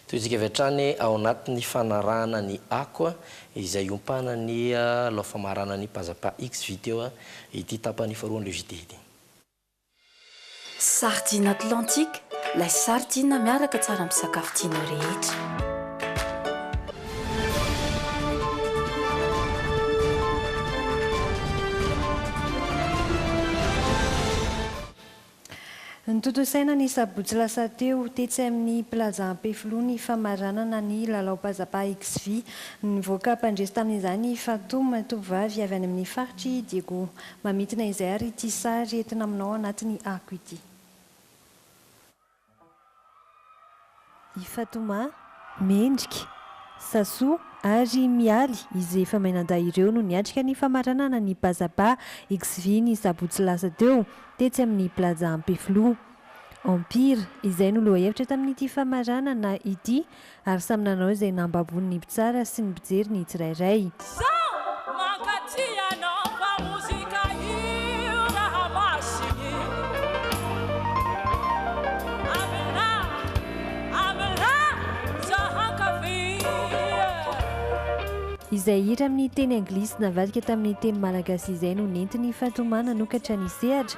Tohintsika avy hatrany ao anatin'ny fanarahana ny Ako izay iompana ny lao famarana ny Pazapa X-Video ity tapany faharoan'ireo JT ity. Sardine Atlantique, lay sardine miaraka tsara amin'ny sakafo tianao rehetra. Notontosaina ny sabotsy lasa teo, tetsy amin'ny Plaza Ampefiloha ny famaranana ny lalao Pazapa XV. Nivoaka mpandresy tamin'izany Fatum, tovovavy avy any amin'ny faritr'i Diego. Mamintina izay ary ity sary entina aminao anatin'ny ako ity. I Fatomà, Mendrika, Sasò ary i Mialy izay efa mianadahy ireo no niatrika ny famaranana ny Bazaba XV ny sabotsy lasa teo, tetsy amin'ny Plaza Ampefiloha. Empire izay no lohahevitra tamin'ity famaranana ity Ary samy nanao izay nahababony ny mpitsara sy ny mpijery ny tsirairay. Zaho mankatia anao fa mozika io raha masiny Amina, amina za hankafy Izay hira amin'ny teny anglisy navadika tamin'ny teny malagasy izay no nentiny fa tomany nanokatra ny sehatra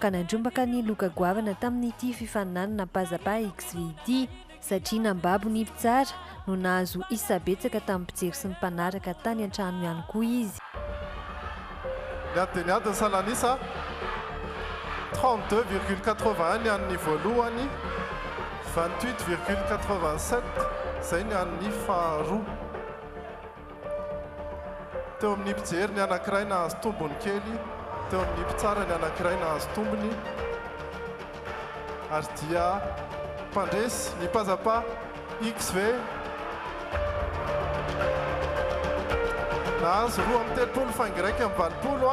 ka nandrombaka ny loka goavana tamin'ity fifaninanana Pazapa XV ity, satria nambabo ny mpitsara no nahazo isa betsaka tamin'ny mpijery sy ny mpanaraka tany an-trano ihany koa izy. Niady dia niady ny salan'isa, trente-deux virgule quatre-vingt-un ny an'ny voalohany, vingt-huit virgule quatre-vingt-sept izay ny an'ny faharoa. Teo amin'ny mpijery ny anankiray nahazo tombony kely, teo amin'ny mpitsara ny anankiray nahazo tombony, ary dia mpandresy ny Pazapa XV nahazo roa amby telopolo faingo iraika amby valopolo.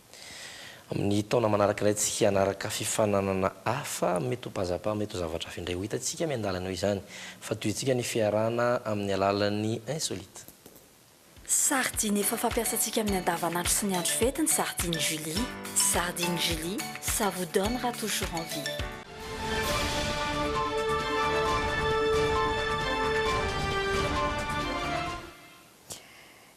Amin'ny taona manaraka ilay tsy hianaraka fifaninanana hafa, mety ho pazapa, mety ho zavatra hafa indray. Ho hitantsika miandalana eo izany. Fa tohintsika ny fiarahana amin'ny alalan'ny insolite. Sardine efa fampiasantsika amin'ny andavanandro sy ny andro fety ny sardine Julie. Sardine Julie, ça vous donnera toujours envie.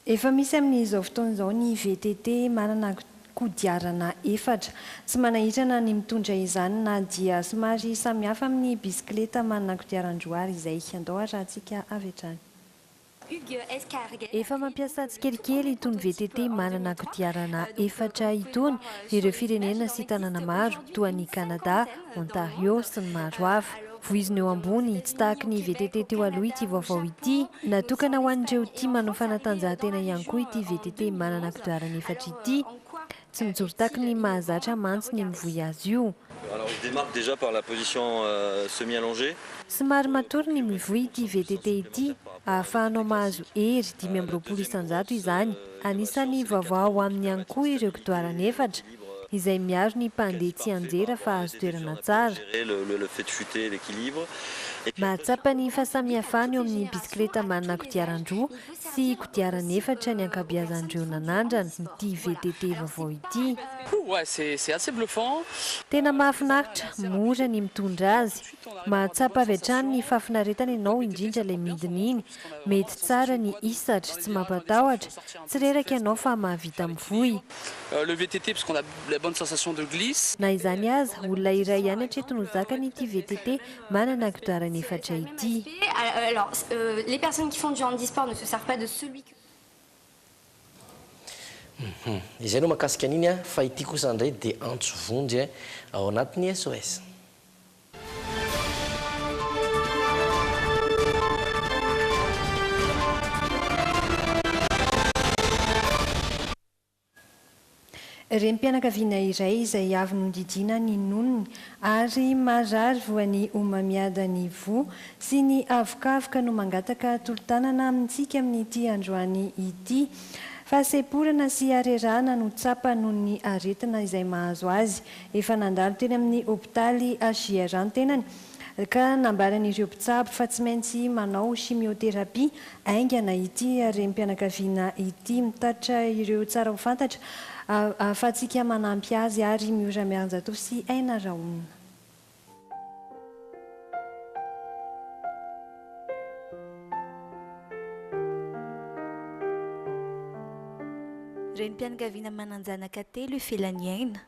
Efa misy amin'izao fotoana izao ny VTT manana kodiarana efatra. Tsy manahitrana ny mitondra izany na dia somary samihafa amin'ny bisikileta manana kodiaran-droa àry izay. Andao harahantsika avy hatrany. Efa mampiasa tsikelikely itony VTT manana kodiarana efatra itony ireo firenena sy tanàna maro, toa an'i Kanada, Ontario, sy ny maro hafa. Voizina eo ambony, tsy tahaky ny VTT teo aloha ity vaovao ity. Natokana ho an'ireo tia manao fanatanjahantena ihany koa ity VTT manana kodiarana efatra ity. Tsy mijoro taky ny mahazatra mantsy ny mivoy azy io. Somary matory ny mivoy ity VTT ity ahafahanao mahazo hery dimy amby roapolo isan-jato izany. Anisan'ny vaovao ao aminy ihany koa ireo kodiarana efatra. izay miaro ny mpandeha tsianjera fa azo toerana tsara. Mahatsapa ny fahasamihafana eo amin'ny bisikileta manana kodiaran-droa sy kodiarana efatra ny ankabeazan'ireo nanandrana ity VTT vaovao ity. Tena mahafinaritra, mora ny mitondra azy. Mahatsapa avy hatrany ny fahafinaretana ianao indrindra ilay midina iny Mety tsara ny hisatra, tsy mampatahotra, tsy reraka ianao fa mahavita mivoy. Le VTT parce qu'on a la bonne sensation de glisse. Na izany aza, olona iray ihany hatreto no zakany ity VTT manana kodiarana efatra ity. Izay no mahakasika an'iny fa ity kosa ndray dia antso vonjy ao anatin'ny SOS. Renim-pianakaviana iray izay avy nodidiana ny nonony ary marary voan'ny homamiada ny voa sy ny avokavoka no mangataka tolo-tanana amintsika amin'ity androany ity. Fahasemporana sy harerahana no tsapany noho ny aretina izay mahazo azy Efa nandalo teny amin'ny hopitaly HJR ny tenany ka nambaran'ireo mpitsabo fa tsy maintsy manao chimiothérapie haingana ity renim-pianakaviana ity. Mitatitra ireo tsara ho fantatra ahafahantsika manampy azy ary Miora Miarinjatovo sy Aina Rahona. Renim-pianakaviana manan-janaka telo ifelan'ny aina.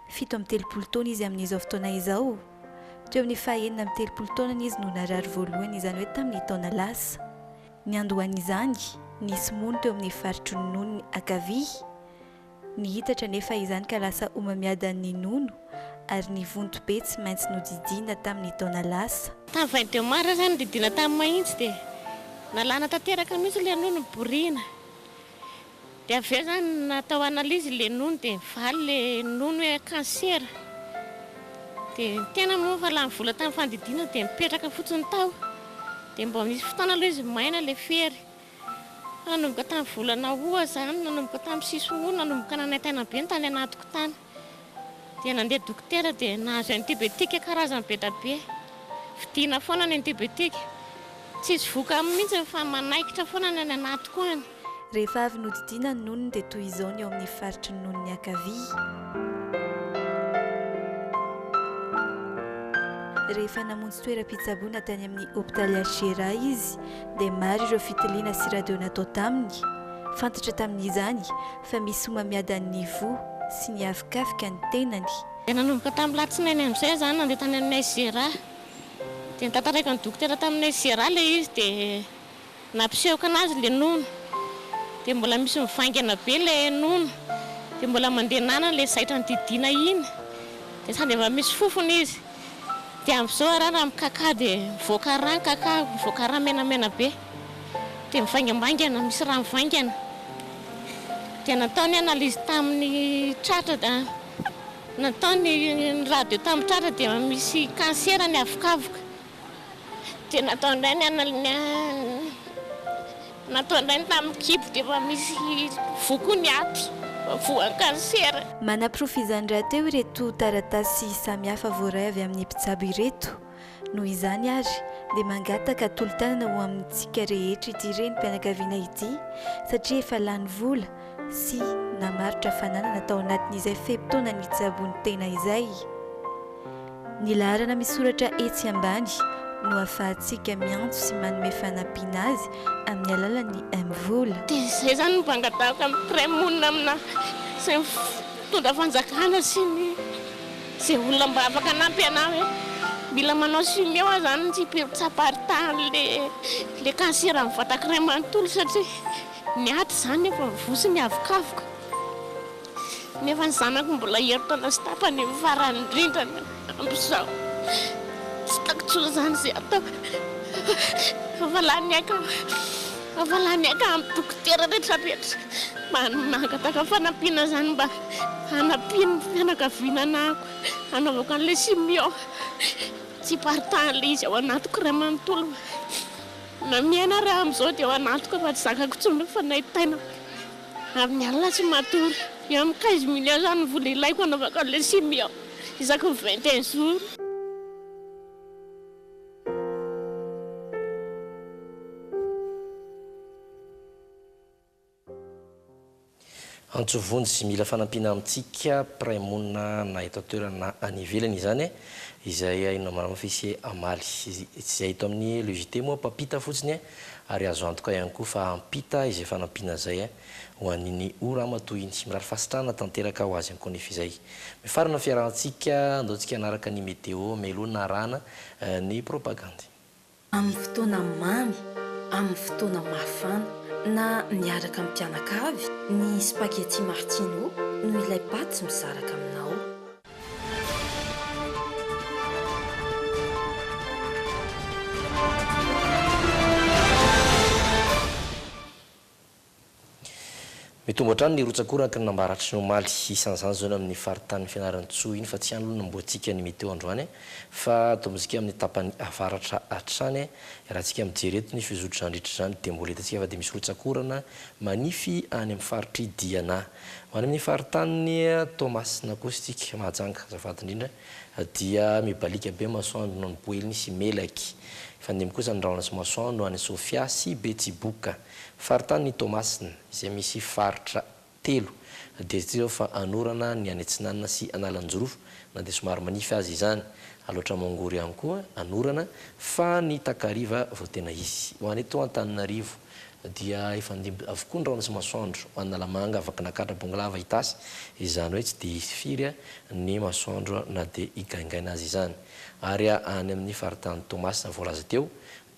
Fito amby telopolo taona izy amin'izao fotoana izao. Teo amin'ny fahenina amby telopolo taonany izy no narary voalohany, izany hoe tamin'ny taona lasa. Niandohan'izany, nisy mony teo amin'ny faritry ny nonony ankavia. Nihitatra anefa izany ka lasa homamiadan'ny nono ary ny vonto be tsy maintsy nodidiana tamin'ny taona lasa. Tamin'ny vingt deux mars izany nodidiana tamin'ny mahitsy dia nalana tanteraka mihitsy ilay nono niboriana. Dia avy eo izany natao analyse ilay nono dia nivaly ilay nono hoe cancer. Dia ny tena moa efa lany vola tamin'ny fandidiana dia nipetraka fotsiny tao. Dia mbola nisy fotoana aloha izy maina ilay fery. Nanomboka tamin'ny volana Août izany, nanomboka tamin'ny sisy Août, nanomboka nanaintaina be ny tany anatiko tany. Dia nandeha dokotera dia nahazo antibiotiques karazany be dia be. Vidiana foana ny antibiotiques. Tsisy vokany mihitsy fa manaikitra foana ny any anatiko any. Rehefa avy nodidiana ny nonony dia toy izao ny ao amin'ny faritry ny nonony ankavia. Rehefa namonjy toeram-pitsaboana tany amin'ny hopitaly HGRA izy dia maro ireo fitiliana sy radio natao taminy, fantatra tamin'izany fa misy homamiadan'ny nivoa sy nihavikavika ny tenany. Dia nanomboka tamin'ny latsinainy amin'izay aho izany nandeha tany aminay Zera, dia notantaraiko ny dokotera taminay Zera ilay izy dia nampisehoako anazy ilay nono, dia mbola misy mivaingana be ilay nono, dia mbola mandeha nanana ilay zaitra nididiana iny, dia sady efa misy fofona izy. Dia amin'izao ara raha mikakà dia mivoaka rà ny kakà, mivoaka rà menamena be. Dia mivaingambaingana, misy rà mivaingana. Dia natao ny analyse tamin'ny tratra da natao ny radio tamin'ny tratra dia misy cancer ny avokavoka. Dia natao indray ny anal- ny an-. Natondrainy tamin'ny kibo dia efa misy vokony ato voan'ny kansera. Manaporofo izany rahateo ireto taratasy samihafa voaray avy amin'ny mpitsabo ireto. Noho izany ary dia mangataka tolo-tanana ho amintsika rehetra ity renim-pianakaviana ity satria efa lany vola sy namarotra fananana tao anatin'izay fe-potoana nitsaboany tena izay. Ny laharana misoratra etsy ambany no afahantsika miantso sy manome fanampiana azy amin'ny alalan'ny Mvola. Dia izay izany no mpangatahaka mi-prêt monina amina izay mitondra fanjakana sy ny izay olona mba afaka hanampy anà hoe mila manao chimio aho izany tsy be mitsam-paritany ilay cancer amin'ny vatakiray manontolo satria ny aty izany efa mivoa sy miavokavoka. nefa ny zanako mbola herintaona sy tapany io farany indrindra ny amin'izao, tsy hitako intsony izany izay ataoko, afa lany aiko aho, afa lany aiko amin'ny dokotera rehetra rehetra mba mangataka fanampiana izany mba hanampian'ny fianakaviana anahako hanaovako an'ilay simio, tsy hiparitaha an'ilay izy ao anatiko iray manontolo, na miaina ary aho amin'izao dia ao anatiko fa tsy zakako intsony ny fanaintainako. Amin'ny alina tsy matory. Et amin'ny quinze millions zany no vola ilaiko hanaovako an'ilay sim aho isaky ny vingt et un jours. Antso vonjy sy mila fanampiana amintsika mpiray monina na eto an-toerana na any ivelany izany izay haino na marina fa hisy hamaly. Tsy izay hita ao amin'ny le JT moa mpampita fotsiny Ary azo antoka ihany koa fa hampita izay fanampiana izay ho an'iny O Ramatoa iny. Mirary fahasitrahana tanteraka ho azy ankonefa izay. Mifarana ny fiarahantsika, andao tsika hanaraka ny meteo, melohina arahana ny propagandy. Amin'ny fotoana mamy, amin'ny fotoana mafana, na miaraka amin'ny mpianakavy, ny spaghetti martino no ilay paty mizaraka aminao. Mitombo hatrany ny rotsakoraky ny nambaratry ny omaly. Isan'izany izao ny amin'ny faritanin'i Fianarantsoa iny fa tsy any aloha no nomboantsika ny meteo androany fa tombontsika amin'ny tapany avaratra hatrany. Raha tsika mijery eto ny fizotra nandritra izany dia mbola hitantsika fa dia misy rotsakorana manify any amin'ny faritr'i Diana. Ho any amin'ny faritanin'i Toamasina kosa isika, Mahajanga, azafady indrindra, dia mibaliaka be masoandro noho ny Boeny sy Melaky. Hifandimby kosa ny rahona sy masoandro any Sofia sy Betsiboka. Faritanin'i Toamasina, izay misy faritra telo, dia hita izao fa anorana ny any atsinanana sy Analanjirofo, na dia somary manify aza izany. Alaotra Mongory ihany koa anorana, fa ny takariva vao tena hisy. Ho any eto Antananarivo. dia efa nidimby avokoa ny rano sy masoandro ho an'Analamanga, Vakinankaratra, Bongolava, Itasy, izany hoe tsy dia hisy firy ny masoandro na dia higaingaina aza izany. Ary any amin'ny faritany Toamasina voalaza teo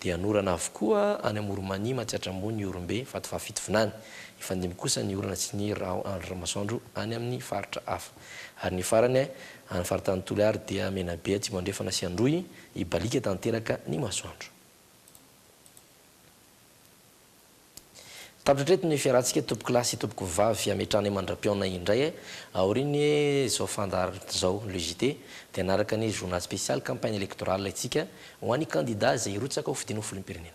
dia hanorana avokoa any Amoronmania, Matsiatrambony, Ihorombe, Vatovafito, Vinany. Hifandimby kosa ny orana sy ny masoandro any amin'ny faritra hafa. Ary ny farany any faritany Toliary dia Menabe, Atsimo Andrefana sy Androy, hibaliaka tanteraka ny masoandro. Tapitra hatreto ny fiarahantsika tompoko lahy sy tompoko vavy hametrahana mandram-pihaonana indray e! Aorian'ny hoe izao fandaharana izao le JT dia hanaraka ny journal spécial campagne électorale antsika ho an'ny kandida izay hirotsaka ho fidiana ho filoham-pirenena.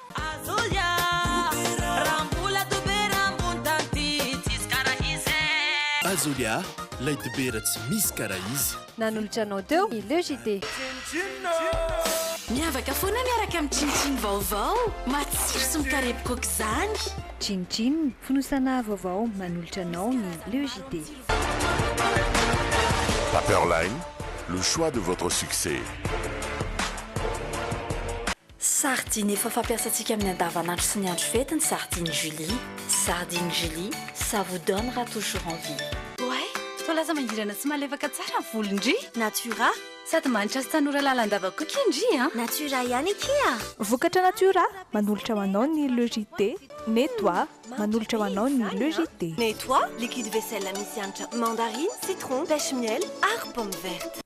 Azolia, lay dobera tsy misy karaha izy. Nanolotra anao teo ny Le JT. Miavaka foana miaraka amin'ny Chin Chin vaovao, matsiro sy mikarepoka aok'izany. Chin Chin, fonosana vaovao manolotra anao ny Le JT. Paperline, le choix de votre succès. Sardine efa fampiasantsika amin'ny andavanandro sy ny andro fety ny sardine Julie, sardine Julie, ça vous donnera toujours envie. Oay! Sao lasa mangirana sy malefaka tsara ny volo ndry! Natura! Sady mahantra sy tanora lalandava koa kie ndry a! Natura ihany akia a! Vokatra Natura, manolotra ho anao ny Le JT, Nettoie, manolotra ho anao ny Le JT. Nettoie, liquide vaisselle misy hanitra mandarine, citron, pêche miel ary pomme verte.